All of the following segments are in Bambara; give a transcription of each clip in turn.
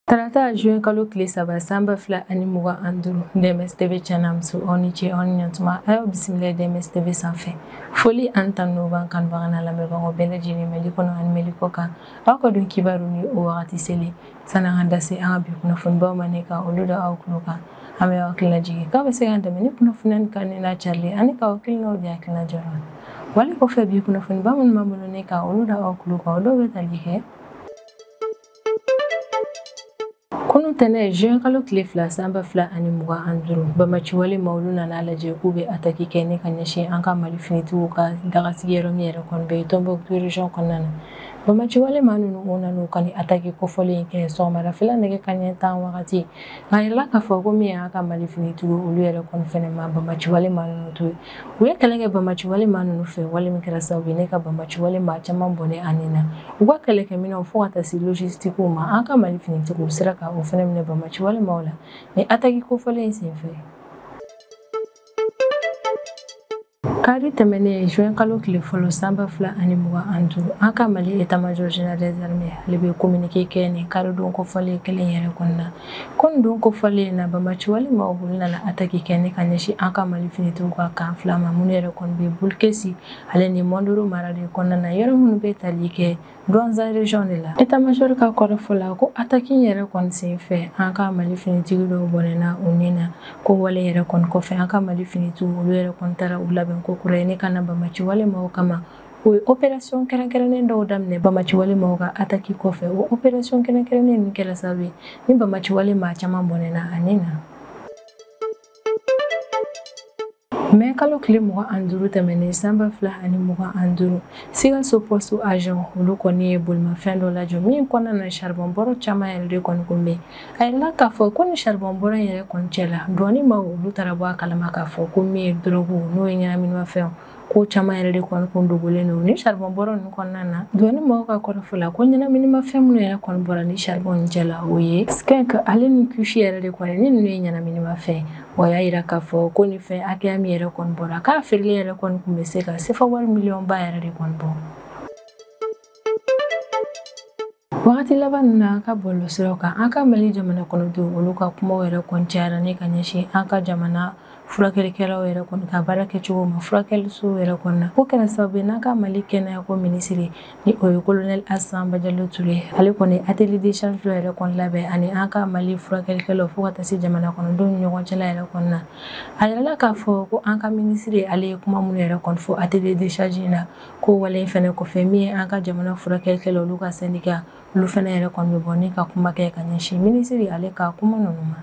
Tarata juin kalo tile saba san ba fila ani mugan ani duuru DMS TV cɛ n'a muso aw ni ce aw ni ɲantuma a y'aw bisimila DMS TV sanfɛ foli ani tanu b'an kanubagaw n'an lamɛnbagaw bɛɛ lajɛlen mali kɔnɔ ani mali kɔ kan aw ka don kibaru ni o wagati selen san'an ka da se an ka bi kunnafonibaw ma ne ka olu da aw tulo kan an bɛ aw hakilina jigin k'aw bɛ se k'an dɛmɛ ni kunnafoniya ni kanuni n'a carili ani k'aw hakilinaw di hakilina jɔyɔrɔ la wale kɔfɛ bi kunnafoniba minnu b'an bolo ne ka olu da aw tulo kan o dɔw bɛ tali kɛ kunu tɛnɛn juin kalo tile fila san ba fila ani mugan ani duuru bamaciwale maa olu nan'a lajɛ k'u bɛ ataki kɛ ne ka ɲɛsin an ka mali finitigiw ka dagasigiyɔrɔ min yɛrɛ kɔni bɛ tombouctou region kɔnɔna na Bamaciwale maa ninnu u nana ka ni ataki kofɔlen kɛ sɔgɔmadafɛla nɛgɛ kanɲɛ tan wagati nk'a yirala k'a fɔ ko min y'an ka mali finitigiw olu yɛrɛ kɔni fana ma bamaciwale maa ninnu to yen u ye kɛlɛ kɛ bamaciwale maa ninnu fɛ wale min kɛra sababu ye ne ka bamaciwale maa caman bɔnɛ a ni na u ka kɛlɛkɛminɛnw fo ka taa se logistikuw ma an ka mali finitigiw sera ka o fana minɛ bamaciwale maaw la ni ataki kofɔlen senfɛ Kari tɛmɛnen juin kalo tile fɔlɔ san ba fila ani mugan an duuru an ka mali état-major général des armées ale bɛ kominike kɛ nin karidon kofɔlen kelen yɛrɛ kɔnɔna na ko don kofɔlen in na bamaciwale maa olu nana ataki kɛ ne ka ɲɛsin an ka mali finitigiw ka camp fila ma minnu yɛrɛ kɔni bɛ boulkessi ale ni mondoro mara de kɔnɔna na yɔrɔ minnu bɛ tali kɛ Douentza region de la état-major ka kɔrɔfɔ la ko ataki yɛrɛ kɔni senfɛ an ka mali finitigi dɔw bɔnɛna u ni na ko wale yɛrɛ kɔni kɔfɛ an ka mali finitigiw olu yɛrɛ kɔni taara u labɛn kokura ye ne ka na bamaciwale maaw kama u ye opération kɛrɛnkɛrɛnnen dɔw daminɛ bamaciwale maaw ka ataki kɔfɛ o opération kɛrɛnkɛrɛnnen ninnu kɛra sababu ye ni bamaciwale maa caman bɔnɛna a ni na mɛ kalo tile mugan an duuru tɛmɛnen san ba fila ani mugan an duuru sikaso poste agent olu kɔni ye bolimafɛn dɔ lajɔ min kɔnɔna na charbon bɔrɔ caman yɛrɛ de kɔni kun bɛ a yirala k'a fɔ ko ni charbon bɔrɔ in yɛrɛ kɔni cɛ la douane maa olu taara bɔ a kalama k'a fɔ ko min ye dɔrɔgu n'o ye ɲɛnaminimafɛnw ko caman yɛrɛ de kɔni kun dogolen don ni charbon bɔrɔ ninnu kɔnɔna na douane mɔgɔw ka kɔrɔfɔ la ko ɲɛnaminimafɛn minnu yɛrɛ kɔni bɔra ni charbon nin cɛ la o ye skunk ale ni kush yɛrɛ de kɔni ni ninnu ye ɲɛnaminimafɛn o y'a yira k'a fɔ ko nin fɛn hakɛya min yɛrɛ kɔni bɔra k'a feereli yɛrɛ kɔni kun bɛ se ka sefa wari miliyɔnba yɛrɛ de kɔni bɔ wagati laban ninnu na an ka bɔlɔsiraw kan an ka mali jamana kɔnɔdenw olu ka kumaw yɛrɛ kɔni cayara ne ka ɲɛsin an ka jamana furakɛlikɛlaw yɛrɛ kɔni ka baara kɛcogo ma furakɛlisow yɛrɛ kɔni na k'o kɛra sababu ye n'an ka mali kɛnɛyako minisiri ni o ye kolonɛli assa badiallo touré ale kɔni atelier d'échange dɔ yɛrɛ kɔni labɛn ani an ka mali furakɛlikɛlaw fo ka taa se jamana kɔnɔdenw ni ɲɔgɔn cɛla yɛrɛ kɔni na a yirala k'a fɔ ko an ka minisiri ale ye kuma minnu yɛrɛ kɔni fɔ atelier d'échange na ko wale in fɛnɛ kɔfɛ min ye an ka jamana furakɛlikɛlaw olu ka sɛndika olu fɛnɛ yɛrɛ kɔni bɛ bɔ ni ka kuma kɛ ka ɲɛsin minisiri ale ka kuma ninnu ma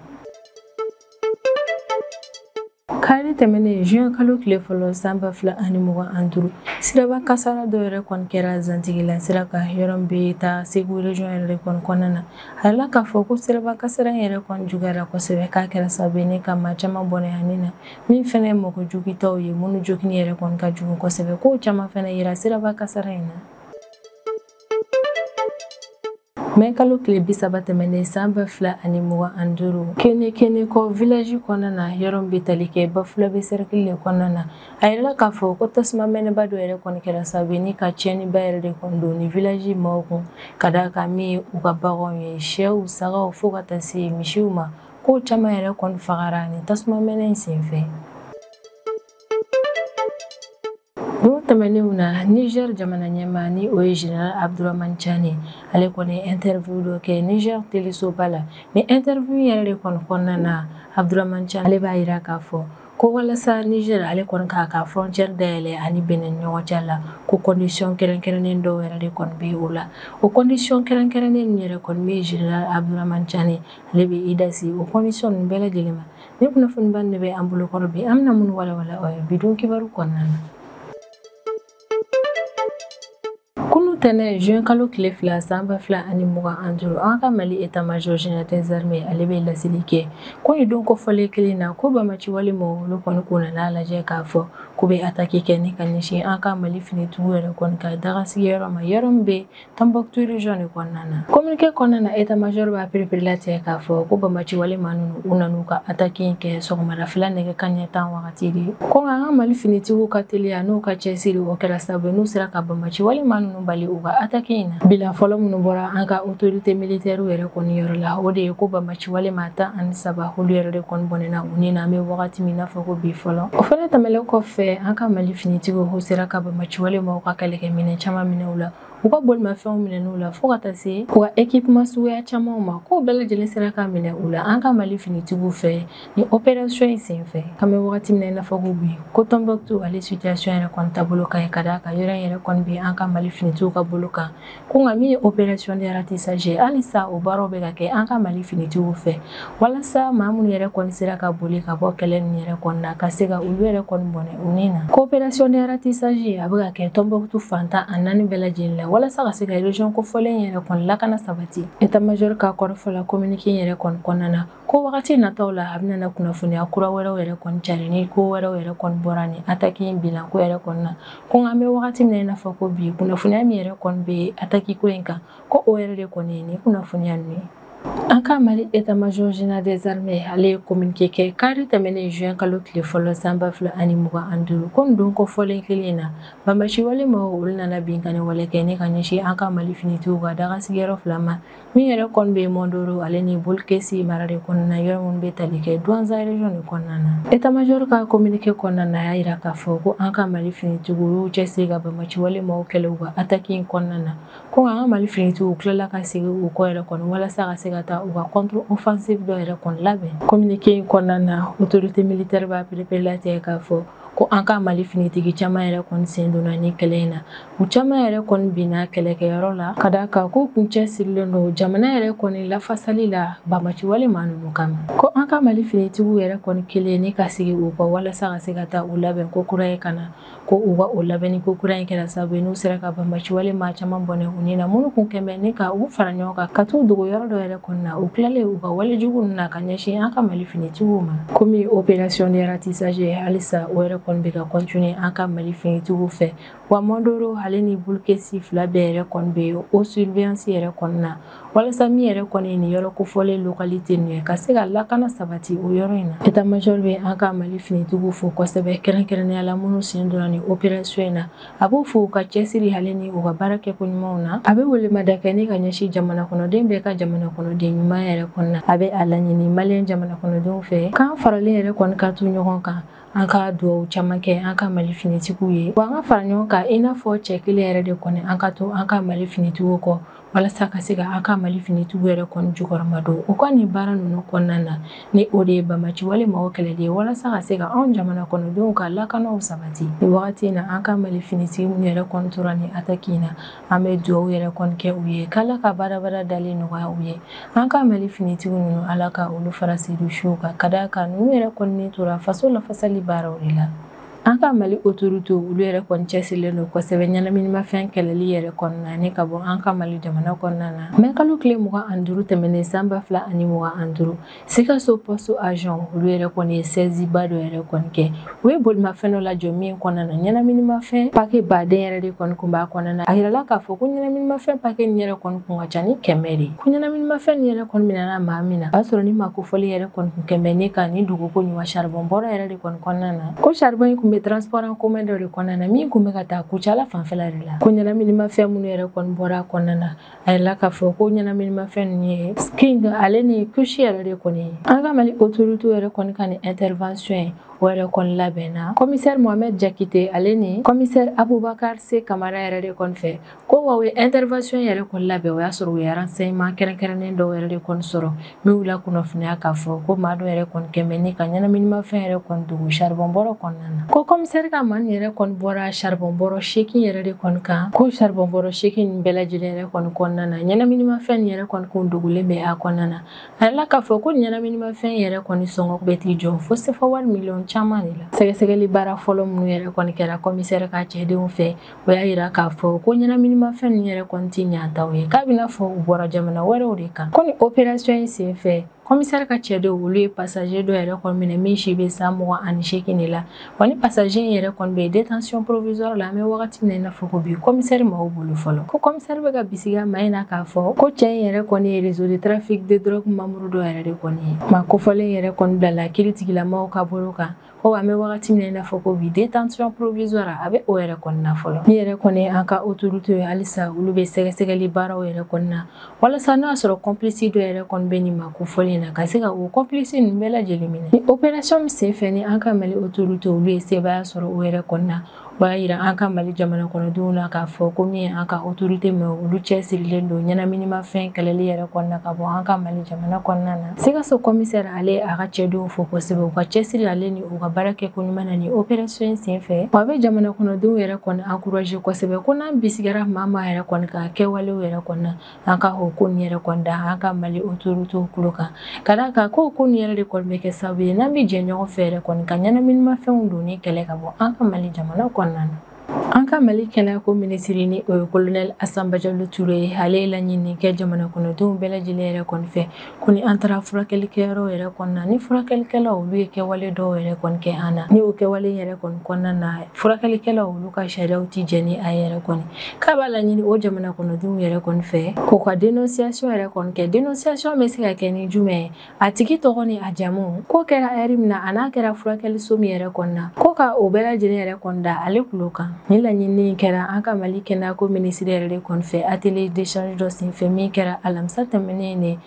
kari tɛmɛnen juin kalo tile fɔlɔ san ba fila ani mugan ani duuru siraba kasara dɔ yɛrɛ kɔni kɛra zantigila sira kan yɔrɔ min bɛ taa segu region yɛrɛ kɔni kɔnɔna na a yirala k'a fɔ ko siraba kasara yɛrɛ kɔni juguyara kosɛbɛ k'a kɛra sababu ye ni ka maa caman bɔnɛ u ni na min fɛnɛ ye mɔgɔ jogintaw ye minnu jogini yɛrɛ kɔni ka jugu kosɛbɛ kow caman fɛnɛ yera siraba kasara in na mɛ kalo tile bi saba tɛmɛnen san ba fila ani mugan ani duuru kenekenekɔ vilaji kɔnɔna na yɔrɔ min bɛ tali kɛ bafulabe sɛrikili le kɔnɔna na a yirala k'a fɔ ko tasuma mɛnɛba dɔ yɛrɛ kɔni kɛra sababu ni ka cɛniba yɛrɛ de kɔni don ni vilaji maaw kun ka d'a kan min ye u ka baganw ye sɛw sagaw fo ka taa se misiw ma Ko caman yɛrɛ kɔni fagara ni tasuma mɛnɛ in senfɛ. Don tɛmɛnenw na Niger jamana ɲɛmaa ni o ye General Abdourahmane Tchani ale kɔni ye interview dɔ kɛ Niger telesoba la ni interview yɛrɛ de kɔni kɔnɔna na Abdourahmane Tchani ale b'a yira k'a fɔ ko walasa Niger ale kɔni k'a ka frontière dayɛlɛ ani Benin ni ɲɔgɔn cɛ la ko condition kɛrɛnkɛrɛnnen dɔw yɛrɛ de kɔni bɛ o la o condition kɛrɛnkɛrɛnnen ninnu yɛrɛ kɔni bɛ General Abdourahmane Tchani ale bɛ i da se o condition ninnu bɛɛ lajɛlen ma ni kunnafoniba de bɛ an bolokɔrɔ bi an bɛna minnu walawala aw ye bi don kibaru kɔnɔna na kunun tɛnɛn juin kalo tile fila sanba fila ani mugan ani duuru an ka mali état-major général des armées ale bɛ laseli kɛ ko nin don kofɔlen kelen na ko banbaci wale maaw olu kɔni k'u nan'a lajɛ k'a fɔ k'u bɛ attaque kɛ ni ka ɲɛsin an ka mali finitigiw yɛrɛ kɔni ka daga sigiyɔrɔ ma yɔrɔ min bɛ Tɔnbɔkutu region de kɔnɔna na communiqué kɔnɔna na état major b'a perepere latigɛ k'a fɔ ko banbaci wale maa ninnu u nan'u ka attaque in kɛ sɔgɔmadafɛla nɛgɛ kaɲɛ tan wagati de ko nka an ka mali finitigiw ka teliya n'u ka cɛsiri o kɛra sababu n'u sera ka banbaci wale maa ninnu bali u ka attaque in na bilan fɔlɔ minnu bɔra an ka autorité militaire yɛrɛ kɔni yɔrɔ la o de ye ko banbaci wale maa tan ani saba olu yɛrɛ de kɔni bɔnɛna u ni na an bɛ wagati min n'a fɔ ko bi fɔlɔ o fana tɛmɛlen kɔfɛ an ka mali finitigiw sera ka banbaci wale maaw ka kɛlɛkɛminɛn caman minɛ u la u ka bolimafɛnw minɛn'u la fo ka taa se u ka ekipema suguya camanw ma k'o bɛɛ lajɛlen sera ka minɛ u la an ka mali finitigiw fɛ ni operasiyɔn in sen fɛ an bɛ wagati min na i n'a fɔ ko bi ko tɔnbɔkutu ale situyasiyɔn yɛrɛ kɔni taabolo ka ɲi ka d'a kan yɔrɔ in yɛrɛ kɔni bɛ an ka mali finitigiw ka bolo kan ko nka min ye operasiyɔn de ratissage halisa o baaraw bɛ ka kɛ an ka mali finitigiw fɛ walasa maa minnu yɛrɛ kɔni sera ka boli ka bɔ kɛlɛ ninnu yɛrɛ kɔni na ka se ka olu yɛrɛ kɔni bɔnɛ u ni na ko opération de ratissage a bɛ ka kɛ Tombouctou fan tan ni naani bɛɛ lajɛlen la walasa ka se ka région kofɔlen yɛrɛ kɔni lakana sabati état major ka kɔrɔfɔ la communiqué yɛrɛ kɔni kɔnɔna na ko wagati nataw la a bɛna kunnafoniya kura wɛrɛw yɛrɛ kɔni cari ni ko wɛrɛw yɛrɛ kɔni bɔra ni ataki in bilan ko yɛrɛ kɔni na ko nka an bɛ wagati min na i n'a fɔ ko bi kunnafoniya min yɛrɛ kɔni bɛ ataki ko in kan ko o yɛrɛ de kɔni ye ni kunnafoniya ninnu ye An ka mali état major général des armées ale ye communiqué kɛ kari tɛmɛnen juin kalo tile fɔlɔ san ba fila ani mugan ani duuru ko don kofɔlen kelen in na banbaaci wale maa olu nana binkanni wale kɛ ni ka ɲɛsin an ka mali finitigiw ka dagasigiyɔrɔ fila ma min yɛrɛ kɔni bɛ Mondoro ale ni Boulkessi mara de kɔnɔna yɔrɔ minnu bɛ tali kɛ Douentza région de kɔnɔna na état major ka communiqué kɔnɔna na a y'a jira k'a fɔ ko an ka mali finitigiw y'u cɛsiri ka banbaaci wale maaw kɛlɛ u ka ataki in kɔnɔna na ko an ka mali finitigiw tilala ka segin u kɔ yɛrɛ kɔni walasa ka se ka taa u ka contre offensive dɔ yɛrɛ kɔni labɛn communiqué in kɔnɔna na autorité militaire b'a pereperelatigɛ k'a fɔ ko an ka mali finitigi caman yɛrɛ kɔni sen donna ni kɛlɛ in na u caman yɛrɛ kɔni binna kɛlɛkɛyɔrɔ la ka d'a kan k'u kun cɛsirilen don jamana yɛrɛ kɔni lafasali la banbaaci wale maa ninnu kama ko an ka mali finitigiw yɛrɛ kɔni kɛlen ni ka segin u kɔ walasa ka se ka taa u labɛn ko kura ye ka na ko u ka o labɛnni ko kura in kɛra sababu ye n'u sera ka banbaaci wale maa caman bɔnɛ u ni na minnu kun kɛlen bɛ ni ka u fara ɲɔgɔn kan ka t'u dogo yɔrɔ dɔ yɛrɛ kɔni na u tilalen u ka wale jugu ninnu na ka ɲɛsin an ka mali finitigiw ma komi opération de ratissage halisa o yɛrɛ kɔni bɛ ka continuer an ka mali finitigiw fɛ wa Mondoro ale ni Boulkessi fila bɛɛ yɛrɛ kɔni bɛ o surveillance yɛrɛ kɔni na walasa min yɛrɛ kɔni ye nin yɔrɔ kofɔlen localité ninnu ye ka se ka lakana sabati o yɔrɔ in na état major bɛ an ka mali finitigiw fo kosɛbɛ kɛrɛnkɛrɛnnenya la minnu sen donna ni operasiyɔn in na a b'u fo u ka cɛsiri ale ni u ka baara kɛko ɲumanw na a bɛ welemada kɛ ni ka ɲɛsin jamana kɔnɔden bɛɛ ka jamana kɔnɔden ɲuman yɛrɛ kɔni na a bɛ a laɲini maliyɛn jamana kɔnɔdenw fɛ k'an faralen yɛrɛ kɔni ka to ɲɔgɔn kan an ka duwawu caman kɛ an ka mali finitigiw ye wa an ka fara ɲɔgɔn kan i n'a fɔ cɛ kelen yɛrɛ de kɔni an ka to an ka mali finitigiw kɔ walasa ka se ka an ka mali finitigiw yɛrɛ kɔni jukɔrɔmadon u ka nin baara ninnu kɔnɔna na ni o de ye banbaaci wale mɔgɔ kɛlɛli ye walasa ka se ka anw jamana kɔnɔdenw ka lakanaw sabati ni wagati in na an ka mali finitigi minnu yɛrɛ kɔni tora ni ataki in na an bɛ duwawu yɛrɛ kɔni kɛ u ye k'ala ka badaabadaa dali nɔgɔya u ye an ka mali finitigi ninnu ala ka olu fara seyidu suw kan ka d'a kan ninnu yɛrɛ kɔni tora faso lafasali baaraw de la An ka Mali autorités olu yɛrɛ kɔni cɛsirilen don kosɛbɛ ɲɛnaminimafɛn kɛlɛli yɛrɛ kɔnɔna ni ka bɔ an ka Mali jamana kɔnɔna na. Mɛ kalo tile mugan ani duuru tɛmɛnen san ba fila ani mugan ani duuru, Sikaso poste agent olu yɛrɛ kɔni ye saisie ba dɔ yɛrɛ kɔni kɛ. U ye bolimafɛn dɔ lajɔ min kɔnɔna na ɲɛnaminimafɛn pake baden yɛrɛ de kɔni kun b'a kɔnɔna na. A yirala k'a fɔ ko ɲɛnaminimafɛn pake nin yɛrɛ kɔni kun ka ca ni kɛmɛ de ye. Ko ɲɛnaminimafɛn nin yɛrɛ kɔni minɛna maa min na, o y'a sɔrɔ ni maa kofɔlen yɛrɛ kɔni kun kɛnbɛ ni ka nin dogo koɲuman charbon bɔrɔ yɛrɛ de kɔni kɔnɔna na ko charbon in kun bɛ transport en commun dɔ de kɔnɔna na min kun bɛ ka taa kucala fanfɛla de la ko ɲɛnaminimafɛn minnu yɛrɛ kɔni bɔra a kɔnɔna na a yirala k'a fɔ ko ɲɛnaminimafɛn ninnu ye skunk ale ni kush yɛrɛ de kɔni ye an ka mali autorité yɛrɛ kɔni ka nin intervention in o yɛrɛ kɔni labɛnna kɔmisɛri mohamɛd jakite ale ni kɔmisɛri abubakar se kamara yɛrɛ de kɔni fɛ ko wa u ye intervention yɛrɛ kɔni labɛn o y'a sɔrɔ u ye renseignement kɛrɛnkɛrɛnnen dɔw yɛrɛ de kɔni sɔrɔ min y'u lakunnafoniya k'a fɔ ko maa dɔ yɛrɛ kɔni kɛnbɛ ni ka ɲɛnaminimafɛn yɛrɛ kɔni dogo charbon bɔrɔ kɔnɔna na ko kɔmisɛri ka maa nin yɛrɛ kɔni bɔra charbon bɔrɔ seegin yɛrɛ de kɔni kan ko charbon bɔrɔ seegin nin bɛɛ lajɛlen yɛrɛ kɔni kɔnɔna na ɲɛnaminimafɛn nin yɛrɛ kɔni kun dogolen bɛ a kɔnɔna na a yirala k'a fɔ ko ɲɛnaminimafɛn yɛrɛ kɔni sɔngɔ bɛ t'i jɔ fo sefa wari miliyɔn caman de la sɛgɛsɛgɛli baara fɔlɔ minnu yɛrɛ kɔni kɛra kɔmisɛri ka cɛdenw fɛ o y'a yira k'a fɔ ko ɲɛnaminimafɛn ninnu yɛrɛ kɔni tɛ yan taw ye k'a b'i n'a fɔ u bɔra jamana wɛrɛw de kan ko ni operasiyɔn in sen fɛ kɔmisɛri ka cɛdenw olu ye pasaje dɔ yɛrɛ kɔni minɛ min si bɛ san mugan ani seegin de la wa ni pasaje in yɛrɛ kɔni bɛ yen détention provisoire la an bɛ wagati min na i n'a fɔ ko bi kɔmisɛri maaw bolo fɔlɔ ko kɔmisɛri bɛ ka bisigiya maa in na k'a fɔ ko cɛ in yɛrɛ kɔni ye réseau de trafic de drogue membre dɔ yɛrɛ de kɔni ye maa kofɔlen yɛrɛ kɔni bilala kiiritigɛla maaw ka bolo kan ko an bɛ wagati min na i n'a fɔ ko bi détention provisoire a bɛ o yɛrɛ kɔnɔna fɔlɔ min yɛrɛ kɔni an ka autorité ye halisa olu bɛ sɛgɛsɛgɛli baaraw yɛrɛ kɔnɔna walasa n'a sɔrɔ complice dɔ yɛrɛ kɔni bɛ nin maa kofɔlen in na ka se ka o complice ninnu bɛɛ lajɛlen minɛ ni opération min senfɛ ni an ka mali autorité olu ye sebaaya sɔrɔ o yɛrɛ kɔnɔna o y'a yira an ka mali jamanakɔnɔdenw na k'a fɔ ko min ye an ka otorite maa olu cɛsirilen don ɲɛnaminimafɛn kɛlɛli yɛrɛ kɔnɔna ka bɔ an ka mali jamana kɔnɔna na sikaso kɔmisɛri ale y'a ka cɛdenw fo kosɛbɛ u ka cɛsiri ale ni u ka baara kɛko ɲuman na ni operasiyɔn in sen fɛ wa a bɛ jamanakɔnɔdenw yɛrɛ kɔni ankuraje kosɛbɛ ko n'an bisigara maa maa yɛrɛ kɔni ka kɛwalew yɛrɛ kɔnɔna an ka o ko nin yɛrɛ kɔni da an ka mali otoritew tulo kan ka d'a kan ko ko nin yɛrɛ de kɔni bɛ kɛ sababu ye n'an bɛ jɛ ɲɔgɔn fɛ yɛrɛ kɔni ka ɲɛnaminimafɛnw donni kɛlɛ ka bɔ an ka mali jamana kɔnɔna na an ka mali kɛnɛyako minisiri ni o ye kolonɛli asa bajalo ture ye ale ye laɲini kɛ jamana kɔnɔdenw bɛɛ lajɛlen yɛrɛ kɔni fɛ ko ni an taara furakɛlikɛyɔrɔ yɛrɛ kɔnɔna ni furakɛlikɛla olu ye kɛwale dɔw yɛrɛ kɔni kɛ an na ni o kɛwale yɛrɛ kɔni kɔnɔna na furakɛlikɛlaw olu ka sariyaw tɛ jɛn ni a yɛrɛ kɔni k'a b'a laɲini o jamana kɔnɔdenw yɛrɛ kɔni fɛ k'u ka denonsiyasɔn yɛrɛ kɔni kɛ denonsiyasɔn bɛ se ka kɛ ni jumɛn ye a tigi tɔgɔ ni a jamu ko kɛra ɛri min na a n'a kɛra furakɛliso min yɛrɛ kɔnɔna ko ka o bɛɛ lajɛlen yɛrɛ kɔni da ale tulo kan Ni laɲini kɛra an ka mali kɛnɛyako minisiri yɛrɛ de kɔni fɛ atelier d'échange dɔ senfɛ min kɛra alamisa tɛmɛnen ne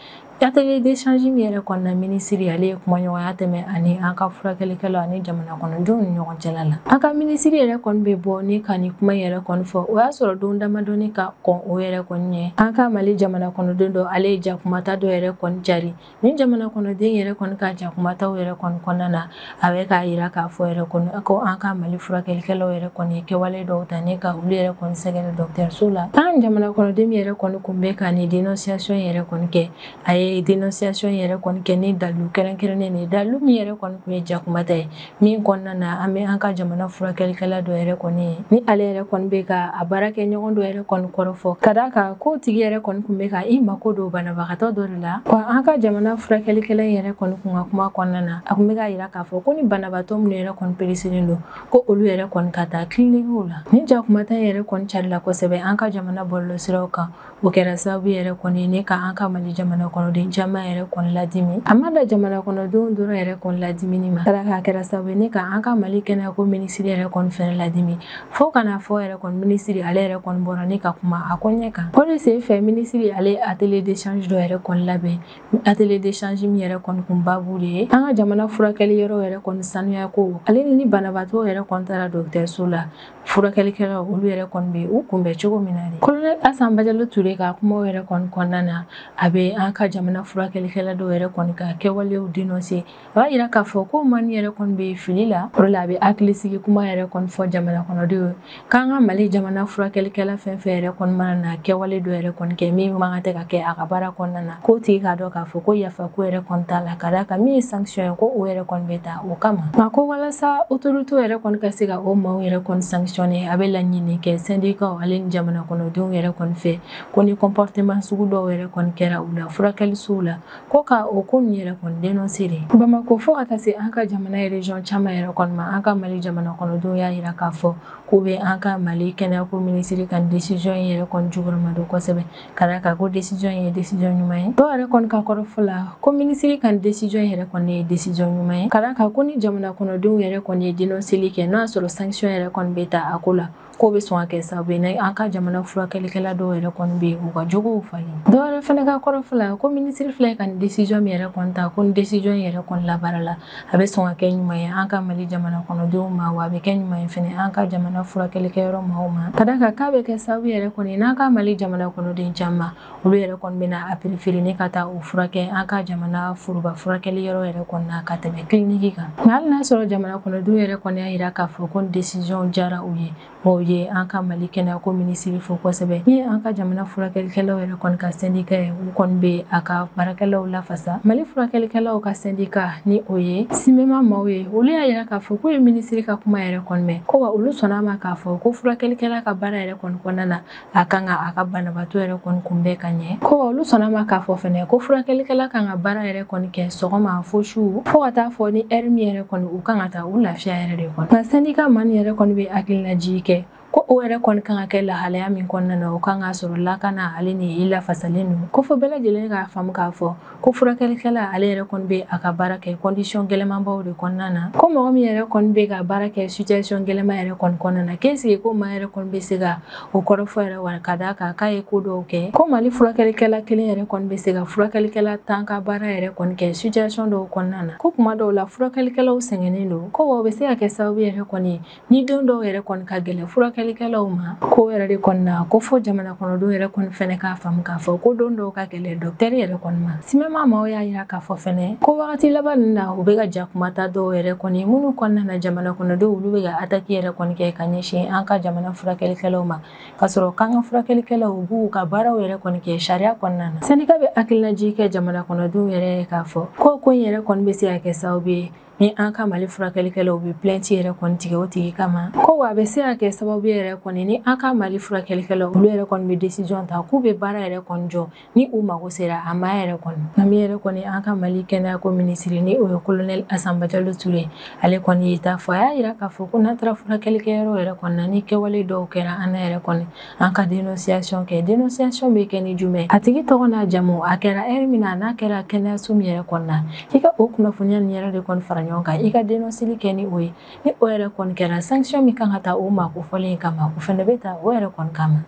atelier d'échange min yɛrɛ kɔnɔna minisiri ale ye kumaɲɔgɔnya tɛmɛ ani an ka furakɛlikɛlaw ani jamana kɔnɔdenw ni ɲɔgɔn cɛla la an ka minisiri yɛrɛ kɔni bɛ bɔ ni ka ni kuma yɛrɛ kɔni fɔ o y'a sɔrɔ don damadɔni ka kɔn o yɛrɛ kɔni ɲɛ an ka mali jamana kɔnɔden dɔ ale ye jakumata dɔ yɛrɛ kɔni jari Ni jamana kɔnɔden yɛrɛ kɔni ka jakumata yɛrɛ kɔni kɔnɔna na a bɛ k'a yira k'a fɔ yɛrɛ kɔni ko an ka mali furakɛlikɛlaw yɛrɛ kɔni ye kɛwale dɔw ta ne ka olu yɛrɛ kɔni sɛgɛrɛ dɔgɔtɔrɔso la tan jamana kɔnɔden yɛrɛ kɔni kun bɛ ka ni denonsiyasɔn yɛrɛ kɔni kɛ a ye denonsiyasɔn yɛrɛ kɔni kɛ ni dalu kɛrɛnkɛrɛnnen ye dalu min yɛrɛ kɔni kun ye jakumata ye min kɔnɔna na an bɛ an ka jamana furakɛlikɛla dɔ yɛrɛ kɔni ye ni ale yɛrɛ kɔni bɛ ka a baarakɛɲɔgɔn dɔ yɛrɛ kɔni kɔrɔfɔ ka d'a kan k'o tigi yɛrɛ kɔni kun bɛ ka i mako don banabagatɔ dɔ de la wa an ka jamana furakɛlikɛla in yɛrɛ kɔni kun ka kuma kɔnɔna na a kun bɛ k'a yira k'a fɔ ko ni banabagatɔ minnu yɛrɛ kɔni peresilen don ko olu yɛrɛ kɔni ka taa kilinikiw la ni jakumata yɛrɛ kɔni carila kosɛbɛ an ka jamana bɔlɔlɔsiraw kan o kɛra sababu yɛrɛ kɔni ye ne ka an ka mali jamana kɔnɔden caman yɛrɛ kɔni ladimi a ma dan jamana kɔnɔdenw dɔrɔn yɛrɛ kɔni ladimini ma tara k'a kɛra sababu ye ne ka an ka mali kɛnɛyako minisiri yɛrɛ kɔni fɛnɛ ladimi fɔɔ ka n'a fɔ yɛrɛ kɔni minisiri ale yɛrɛ kɔni bɔra ne ka kuma a ko ɲɛ kan o de sen fɛ minisiri ale ye atelier d'échange dɔ yɛrɛ kɔni labɛn atelier d'échange min yɛrɛ kɔni kun babu de ye an ka jamana furakɛliyɔrɔ yɛrɛ kɔni sanuyako ale ni banabaatɔw yɛrɛ kɔni taara dɔgɔtɔrɔso la furakɛlikɛlaw olu yɛrɛ kɔni bɛ u kunbɛn cogo min na de kolonɛli asa bajalo ture ka kumaw yɛrɛ kɔni kɔnɔna na a bɛ an ka jamana furakɛlikɛla dɔw yɛrɛ kɔni ka kɛwalew denɔnse a b'a yira k'a fɔ ko mani yɛrɛ kɔni bɛ fili la o la a bɛ hakilisigi kuma yɛrɛ kɔni fɔ jamana kɔnɔdenw ye k'an ka mali jamana furakɛlikɛla fɛn fɛn yɛrɛ kɔni mana na kɛwale dɔ yɛrɛ kɔni kɛ min man kan tɛ ka kɛ a ka baara kɔnɔna na k'o tigi k'a dɔn k'a fɔ ko yafa ko yɛrɛ kɔni t'a la ka d'a kan min ye sanction ye ko o yɛrɛ kɔni bɛ ta o kama nka ko walasa autorité yɛrɛ kɔni ka se ka o maaw yɛrɛ kɔni sanctionner a bɛ laɲini kɛ sɛndikaw ale ni jamana kɔnɔdenw yɛrɛ kɔni fɛ ko ni comportement sugu dɔw yɛrɛ kɔni kɛra u la furakɛlisow la ko ka o ko nin yɛrɛ kɔni denonse de bamako fo ka taa se an ka jamana région caman yɛrɛ kɔni ma an ka mali jamana kɔnɔdenw y'a yira k'a fɔ k'u bɛ an ka mali kɛnɛyako minisiri ka décision yɛrɛ kɔni jukɔrɔmadon kosɛbɛ ka d'a kan ko desizɔn in ye desizɔn ɲuman ye dɔw yɛrɛ kɔni ka kɔrɔfɔ la ko minisiri ka nin desizɔn yɛrɛ kɔni ye desizɔn ɲuman ye ka d'a kan ko ni jamana kɔnɔdenw yɛrɛ kɔni ye denɔnseli kɛ n'o y'a sɔrɔ sankisiyɔn yɛrɛ kɔni bɛ ta a ko la k'o bɛ sɔn ka kɛ sababu ye n'an ka jamana furakɛlikɛla dɔw yɛrɛ kɔni bɛ u ka jogow falen dɔw yɛrɛ fana ka kɔrɔfɔ la ko minisiri filɛ ka nin desizɔn min yɛrɛ kɔni ta ko ni desizɔn yɛrɛ kɔni labaarala a bɛ sɔn ka kɛ ɲuman ye an ka mali jamana kɔnɔdenw ma wa a bɛ kɛ ɲuman ye fana an ka jamana furakɛlikɛyɔrɔ maaw ma ka d'a kan k'a bɛ kɛ sababu yɛrɛ kɔni n'an ka mali jamana kɔnɔden caman olu yɛrɛ kɔni bɛna a perefere ni ka taa u furakɛ an ka jamana foroba furakɛliyɔrɔ yɛrɛ kɔni na ka tɛmɛ kiliniki kan nka hali n'a sɔrɔ jamana kɔnɔdenw yɛrɛ kɔni y'a yira k'a fɔ ko desizɔn diyara u ye maaw ye an ka mali kɛnɛyako minisiri fo kosɛbɛ ni an ka jamana furakɛlikɛlaw yɛrɛ kɔni ka sendika ye u kɔni bɛ a ka baarakɛlaw lafasa mali furakɛlikɛlaw ka sendika ni o ye simema maaw ye olu y'a yira k'a fɔ k'u ye minisiri ka kuma yɛrɛ kɔni mɛn ko wa olu sɔnna a ma k'a fɔ ko furakɛlikɛla ka baara yɛrɛ kɔni kɔnɔna na a kan ka a ka banabaatɔ yɛrɛ kɔni kunbɛn ka ɲɛ ko olu sɔnna a ma k'a fɔ fɛnɛ ko furakɛlikɛla kan ka baara yɛrɛ kɔni kɛ sɔgɔma fo su fɔɔ ka taa fɔ ni ɛri min yɛrɛ kɔni u kan ka taa u lafiya yɛrɛ de kɔnɔ nka sendika maa nin yɛrɛ kɔni bɛ hakilinajigi kɛ ko o yɛrɛ kɔni kan ka kɛ lahalaya min kɔnɔna na o kan k'a sɔrɔ lakanalen ni i lafasalen don ko fɔ bɛɛ lajɛlen k'a faamu k'a fɔ Ko furakɛlikɛla ale yɛrɛ kɔni bɛ a ka baara kɛ condition gɛlɛnmanbaw de kɔnɔna na, ko mɔgɔ min yɛrɛ kɔni bɛ ka baara kɛ situation gɛlɛnman yɛrɛ kɔni kɔnɔna na, k'est-ce que ko maa yɛrɛ kɔni bɛ se ka o kɔrɔfɔ yɛrɛ wa ka d'a kan k'a ye ko dɔw kɛ, ko Mali furakɛlikɛla kelen yɛrɛ kɔni bɛ se ka furakɛlikɛla 10 ka baara yɛrɛ kɔni kɛ situation dɔw kɔnɔna na, ko kuma dɔw la furakɛlikɛlaw sɛgɛnnen don, ko wa o bɛ se ka kɛ sababu yɛrɛ kɔni Ni don dɔw yɛrɛ kɔni ka gɛlɛn furakɛlikɛlaw ma ko yɛrɛ de kɔni na ko fɔ jamana kɔnɔdenw yɛrɛ kɔni fɛnɛ k'a faamu k'a fɔ ko don dɔw ka gɛlɛn dɔkitɛri yɛrɛ kɔni ma simema maaw y'a yira k'a fɔ fɛnɛ ko wagati laban ninnu na u bɛ ka jakumata dɔw yɛrɛ kɔni ye minnu kɔnɔna na jamana kɔnɔdenw olu bɛ ka ataki yɛrɛ kɔni kɛ ka ɲɛsin an ka jamana furakɛlikɛlaw ma ka sɔrɔ k'an ka furakɛlikɛlaw u b'u ka baaraw yɛrɛ kɔni kɛ sariya kɔnɔna na sendika bɛ hakilinajigi kɛ jamana kɔnɔdenw yɛrɛ k'a fɔ ko ko in yɛrɛ kɔni bɛ se ka kɛ sababu ye ni an ka mali furakɛlikɛlaw bɛ plɛnti yɛrɛ kɔni tigɛ o tigi kama ko wa a bɛ se ka kɛ sababu yɛrɛ kɔni ni an ka mali furakɛlikɛlaw olu yɛrɛ kɔni bɛ desizɔn ta k'u bɛ baara yɛrɛ kɔni jɔ ni u mago sera a ma yɛrɛ kɔni nka min yɛrɛ kɔni an ka mali kɛnɛyako minisiri ni o ye kolonɛli asan bajalo ture ale kɔni ye ta fɔ a y'a yira k'a fɔ ko n'an taara furakɛlikɛyɔrɔ yɛrɛ kɔni na ni kɛwale dɔw kɛra an na yɛrɛ kɔni an ka denonsiyasɔn kɛ denonsiyasɔn bɛ kɛ ni jumɛn a tigi tɔgɔ n'a jamu a kɛra ɛri min na n'a kɛra kɛnɛyaso min yɛrɛ kɔni na i ka o kunnafoniya nin yɛrɛ de kɔni fara ɲɔgɔn kan i ka denonseli kɛ ni o ye ni o yɛrɛ kɔni kɛra sankisiyɔn min kan ka ta o maa kofɔlen kama o fana bɛ ta o yɛrɛ kɔni kama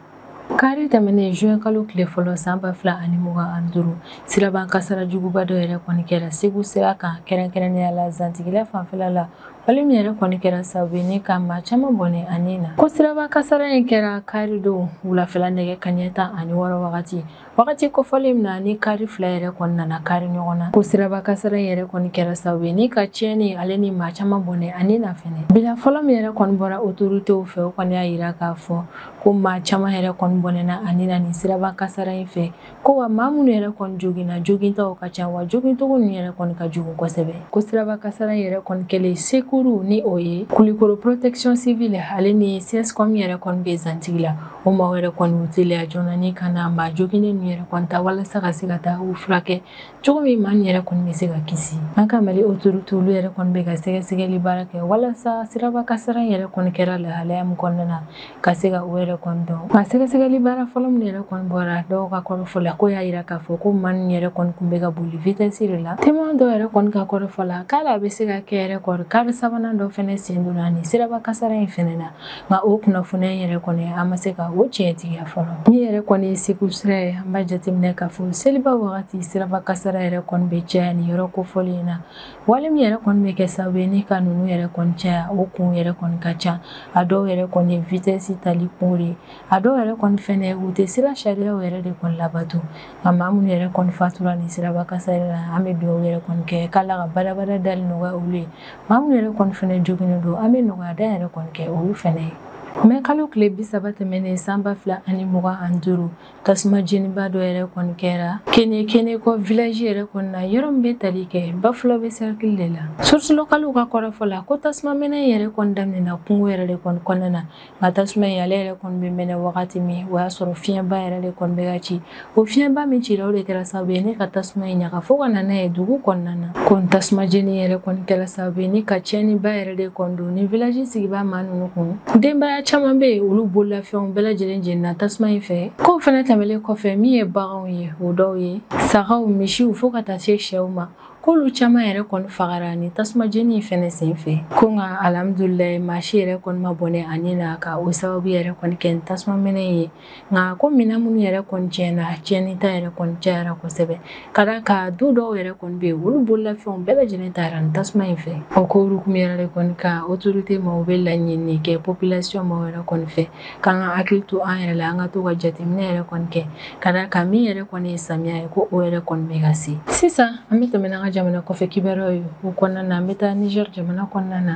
kari tɛmɛnen juin kalo tile fɔlɔ san ba fila ani mugan ani duuru siraba kasaara juguba dɔ yɛrɛ kɔni kɛra segu sira kan kɛrɛnkɛrɛnnenya la zantigila fanfɛla la Wale min yɛrɛ kɔni kɛra sababu ye ni ka maa caman bɔnɛ a ni na. Ko siraba kasara in kɛra kari don wulafɛla nɛgɛ kaɲɛ tan ani wɔɔrɔ wagati. Wagati kofɔlen min na ni kari fila yɛrɛ kɔni nana kari ɲɔgɔn na. Ko siraba kasara in yɛrɛ kɔni kɛra sababu ye ni ka tiɲɛni ale ni maa caman bɔnɛ a ni na fɛnɛ. Bilan fɔlɔ min yɛrɛ kɔni bɔra otoritew fɛ o kɔni y'a yira k'a fɔ ko maa caman yɛrɛ kɔni bɔnɛna a ni na nin siraba kasara in fɛ. ko wa maa minnu yɛrɛ kɔni joginna jogintɔw ka ca wa jogincogo ninnu yɛrɛ kɔni ka jugu kosɛbɛ ko siraba kasara yɛrɛ kɔni kɛlen sekuru ni o ye kulikoro protection civile ale ni cscom yɛrɛ kɔni bɛ zantigila o maaw yɛrɛ kɔni u teliya joona ni ka na maa joginnen ninnu yɛrɛ kɔni ta walasa ka se ka taa u furakɛ cogo min maa nin yɛrɛ kɔni bɛ se ka kisi an ka mali autorité olu yɛrɛ kɔni bɛ ka sɛgɛsɛgɛli baara kɛ walasa siraba kasara in yɛrɛ kɔni kɛra lahalaya min kɔnɔna na ka se ka o yɛrɛ kɔni dɔn nka sɛgɛsɛgɛli baara fɔlɔ min yɛrɛ kɔni bɔra dɔw ka kɔrɔfɔ la ko y'a yira k'a fɔ ko maa nin yɛrɛ kɔni kun bɛ ka boli vitɛsi de la témoin dɔw yɛrɛ kɔni ka kɔrɔfɔ la k'a la a bɛ se ka kɛ yɛrɛ kɔni kari sabanan dɔ fɛnɛ sen donna nin siraba kasara in fɛnɛ na nka o kunnafoniya in yɛrɛ kɔni an ma se ka o tiɲɛtigiya fɔlɔ min yɛrɛ kɔni ye segu sira ye an b'a jateminɛ k'a fɔ seliba wagati siraba kasara yɛrɛ kɔni bɛ caya nin yɔrɔ kofɔlen na Wale min yɛrɛ kɔni bɛ kɛ sababu ye ni ka ninnu yɛrɛ kɔni caya o kun yɛrɛ kɔni ka ca a dɔw yɛrɛ kɔni ye vitesse tali kunw de ye a dɔw yɛrɛ kɔni fɛnɛ u tɛ sira sariyaw yɛrɛ de kɔni labato nka maa minnu yɛrɛ kɔni fatura nin siraba kasara la an bɛ dugawu yɛrɛ kɔni kɛ k'Ala ka badabada dali nɔgɔya olu ye maa minnu yɛrɛ kɔni fɛnɛ joginnen don an bɛ nɔgɔya da yɛrɛ kɔni kɛ olu fɛnɛ ye. Mɛ kalo tile bi saba tɛmɛnen san ba fila ani mugan ani duuru tasuma jeniba dɔ yɛrɛ kɔni kɛra keɲekeɲekɔ vilaji yɛrɛ kɔni na yɔrɔ min bɛ tali kɛ bafulabɛ sɛrikili de la surusi lokaliw ka kɔrɔfɔ la ko tasuma mɛnɛ yɛrɛ kɔni daminɛna kungo yɛrɛ de kɔni kɔnɔna na nka tasuma in ale yɛrɛ kɔni bɛ mɛnɛ wagati min o y'a sɔrɔ fiɲɛba yɛrɛ de kɔni bɛ ka ci o fiɲɛba min cira o de kɛra sababu ye ni ka tasuma in ɲaga fo ka na n'a ye dugu kɔnɔna na ko nin tasuma jeni yɛrɛ kɔni kɛra sababu ye ni ka tiɲɛniba yɛrɛ de kɔni nin village sigibaa maa ninnu kun denbaya caman bɛ yen olu bololafɛnw bɛɛ lajɛlen jenina tasuma in fɛ k'o fɛnɛ tɛmɛlen kɔfɛ min ye baganw ye o dɔw ye sagaw misiw fo ka taa se sɛw ma k'olu caman yɛrɛ kɔni fagara nin tasuma jeni in fɛnɛ sen fɛ ko nka alhamdulilayi maa si yɛrɛ kɔni ma bɔnɛ a ni na ka o sababu yɛrɛ kɔni kɛ nin tasuma mɛnɛ ye nka ko minɛn minnu yɛrɛ kɔni tiɲɛna tiɲɛni ta yɛrɛ kɔni cayara kosɛbɛ ka d'a kan du dɔw yɛrɛ kɔni bɛ yen olu bololafɛnw bɛɛ lajɛlen taara nin tasuma in fɛ o ko hukumu yɛrɛ de kɔni ka otorite maaw bɛ laɲini kɛ population maa yɛrɛ kɔni fɛ k'an ka hakili to an yɛrɛ la an ka to ka jateminɛ yɛrɛ kɔni kɛ ka d'a kan min yɛrɛ kɔni ye samiya ye ko o yɛrɛ kɔni bɛ ka se sisan an bɛ tɛmɛ n'an ka jamana kɔfɛ kibaruyaw ye o kɔnɔna na an bɛ taa niger jamana kɔnɔna na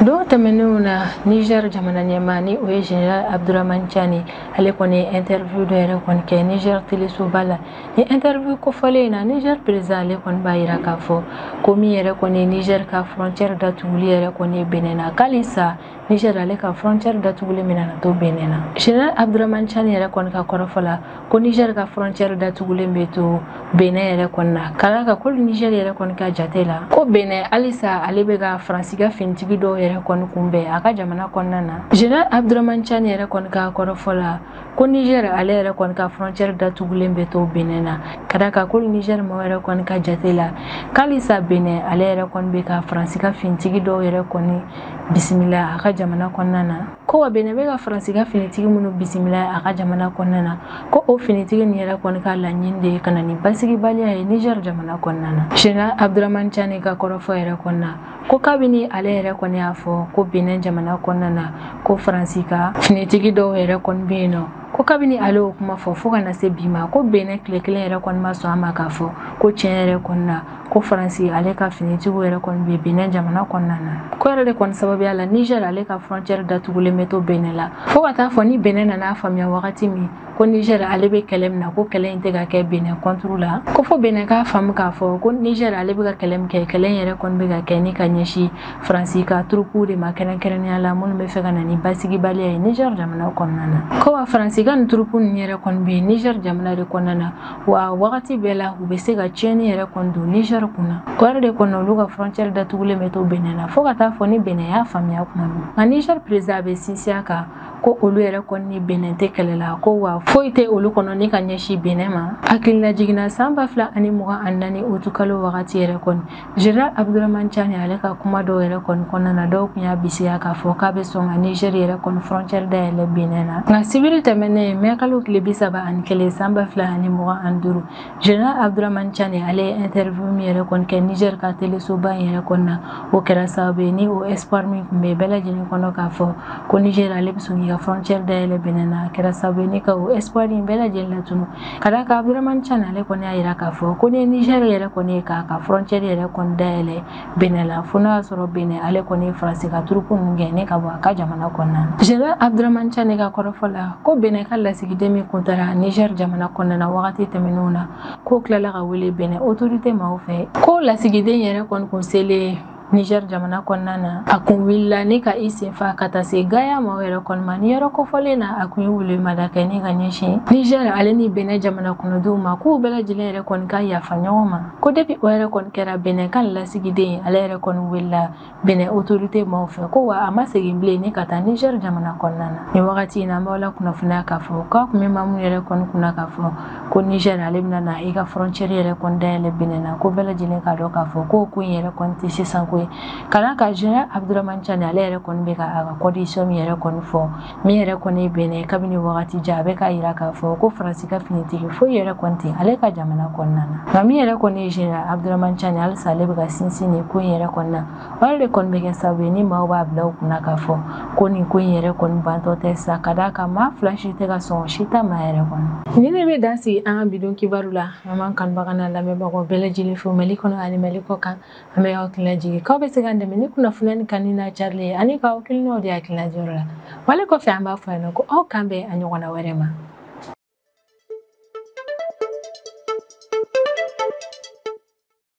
don tɛmɛnenw na niger jamana ɲɛmaa ni o ye general abduraman tchani ale kɔni ye interview dɔ yɛrɛ kɔni kɛ niger telesoba la ni interview kofɔlen in na niger président ale kɔni b'a yira k'a fɔ ko min yɛrɛ kɔni niger ka frontière datuguli yɛrɛ kɔni benin na k'halisa niger ale ka frontière datugulen bɛna to benin na general abduraman tchani yɛrɛ kɔni ka kɔrɔfɔ la ko niger ka frontière datugulen bɛ to benin yɛrɛ kɔni na ka d'a kan ko niger yɛrɛ kɔni ka jate la ko benin halisa ale bɛ ka faransi ka finitigi dɔw yɛrɛ kɔni kunbɛn a ka jamana kɔnɔna na general abdurahman tchani yɛrɛ kɔni ka kɔrɔfɔ la ko niger ale yɛrɛ kɔni ka frontière datugulen bɛ to benin na ka d'a kan ko niger maaw yɛrɛ kɔni ka jate la k'halisa benin ale yɛrɛ kɔni bɛ ka faransi ka finitigi dɔw yɛrɛ kɔni bisimila a ka jamana kɔnɔna na ko wa benin bɛ ka faransi ka finitigi minnu bisimila a ka jamana kɔnɔna na ko o finitigi nin yɛrɛ kɔni ka laɲini de ye ka na ni basigibaliya ye niger jamana kɔnɔna na general abduraman tchani ka kɔrɔfɔ yɛrɛ kɔnɔna ko kabini ale yɛrɛ kɔni y'a fɔ ko benin jamana kɔnɔna na ko faransi ka finitigi dɔw yɛrɛ kɔni bɛ yen nɔ ko kabini ale y'o kuma fɔ fo ka na se bi ma ko benin tile kelen yɛrɛ kɔni ma sɔn a ma k'a fɔ ko tiɲɛ yɛrɛ kɔni na ko faransi ale ka finitigiw yɛrɛ kɔni bɛ benin jamana kɔnɔna na k'o yɛrɛ de kɔni sababuya la niger ale ka frontière datugulen bɛ to benin la fo ka taa fo ni benin nan'a faamuya wagati min ko niger ale bɛ kɛlɛ min na ko kɛlɛ in tɛ ka kɛ benin contre la ko fo benin k'a faamu k'a fɔ ko niger ale bɛ ka kɛlɛ min kɛ kɛlɛ in yɛrɛ kɔni bɛ ka kɛ ni ka ɲɛsin faransi ka turupuw de ma kɛrɛnkɛrɛnnenya la minnu b'a fɛ ka na ni basigibaliya ye niger jamana kɔnɔna na ko wa faransi ka nin turupu ninnu yɛrɛ kɔni bɛ niger jamana de kɔnɔna na wa wagati bɛɛ la u bɛ se ka tiɲɛni yɛrɛ kɔni don Niger kunna o yɛrɛ de kɔnɔ olu ka frontière datugulen bɛ to Benin na fo ka taa fo ni Benin y'a faamuya kuma min nka Niger président bɛ sinsin a kan ko olu yɛrɛ kɔni ni Benin tɛ kɛlɛ la ko wa foyi tɛ olu kɔnɔ ni ka ɲɛsin Benin ma hakililajigin na san ba fila ani mugan ani naani août kalo wagati yɛrɛ kɔni General Abdurahmane Tchani ale ka kuma dɔw yɛrɛ kɔni kɔnɔna na dɔw kun y'a bisiya k'a fɔ k'a bɛ sɔn ka Niger yɛrɛ kɔni frontière dayɛlɛ Benin na nka sibiri tɛmɛnen mai kalo tile bi saba ani kelen san ba fila ani mugan ani duuru General Abdurahmane Tchani ale ye interview min yɛrɛ kɔni kɛ Niger ka telesoba in yɛrɛ kɔni na o kɛra sababu ye ni o espoir min kun bɛ bɛɛ lajɛlen kɔnɔ k'a fɔ ko Niger ale bɛ sɔn k'i ka frontière dayɛlɛ Benin na a kɛra sababu ye ni ka o espoir in bɛɛ lajɛlen latunu ka d'a kan abdurahmane tchani ale kɔni y'a yira k'a fɔ ko ni niger yɛrɛ kɔni ye k'a ka frontière yɛrɛ kɔni dayɛlɛ benin la fo n'a y'a sɔrɔ benin ale kɔni ye faransi ka turupu ninnu gɛn ne ka bɔ a ka jamana kɔnɔna na general abdurahmane tchani ka kɔrɔfɔ la ko benin ka lasigiden min kun taara niger jamana kɔnɔna na wagati tɛmɛnenw na k'o tilala ka wele benin autorité maaw fɛ ko lasigiden yɛrɛ kɔni kun selen Niger jamana kɔnɔna na a kun wulila ni ka i senfa ka taa se Gaya ma yɛrɛ kɔni ma ni yɔrɔ kofɔlen na a kun ye welemada kɛ ni ka ɲɛsin Niger ale ni Benin jamana kɔnɔdenw ma k'u bɛɛ lajɛlen yɛrɛ kɔni ka yafa ɲɔgɔn ma ko depuis o yɛrɛ kɔni kɛra Benin ka lasigiden ale yɛrɛ kɔni welela Benin autorité maaw fɛ ko wa a ma segin bilen ni ka taa Niger jamana kɔnɔna na ni wagati in na an b'aw lakunnafoniya k'a fɔ k'a kun bɛ maa minnu yɛrɛ kɔni kunna k'a fɔ ko Niger ale bɛna na i ka frontière yɛrɛ kɔni dayɛlɛ Benin na ko bɛɛ lajɛlen k'a dɔn k'a fɔ k'o ko in yɛrɛ kɔni tɛ sisan ko ye ka d'a kan général Abdourahmane Tchani ale yɛrɛ kɔni bɛ ka a ka condition min yɛrɛ kɔni fɔ min yɛrɛ kɔni ye Benin kabini wagati jan a bɛ k'a jira k'a fɔ ko Faransi ka finitigi foyi yɛrɛ kɔni tɛ ale ka jamana kɔnɔna na nka min yɛrɛ kɔni ye général Abdourahmane Tchani halisa ale bɛ ka sinsin nin ko in yɛrɛ kɔni na O yɛrɛ de kɔni bɛ kɛ sababu ye ni maaw b'a bila u kunna k'a fɔ ko nin ko in yɛrɛ kɔni bantɔ tɛ sa ka d'a kan maa fila si tɛ ka sɔn si ta ma yɛrɛ kɔni nin de bɛ dan sigi an ka bi don kibaru la an b'an kanubaga n'a lamɛnbagaw bɛɛ lajɛlen fo Mali kɔnɔ ani Mali kɔkan an bɛ aw hakili lajigin k'aw bɛ se k'an dɛmɛ ni kunnafoniya in kanuni n'a carili ye ani k'aw hakilinaw di hakilina diyɔrɔ la wale kɔfɛ an b'a fɔ yan nɔ ko aw k'an bɛn a ɲɔgɔnna wɛrɛ ma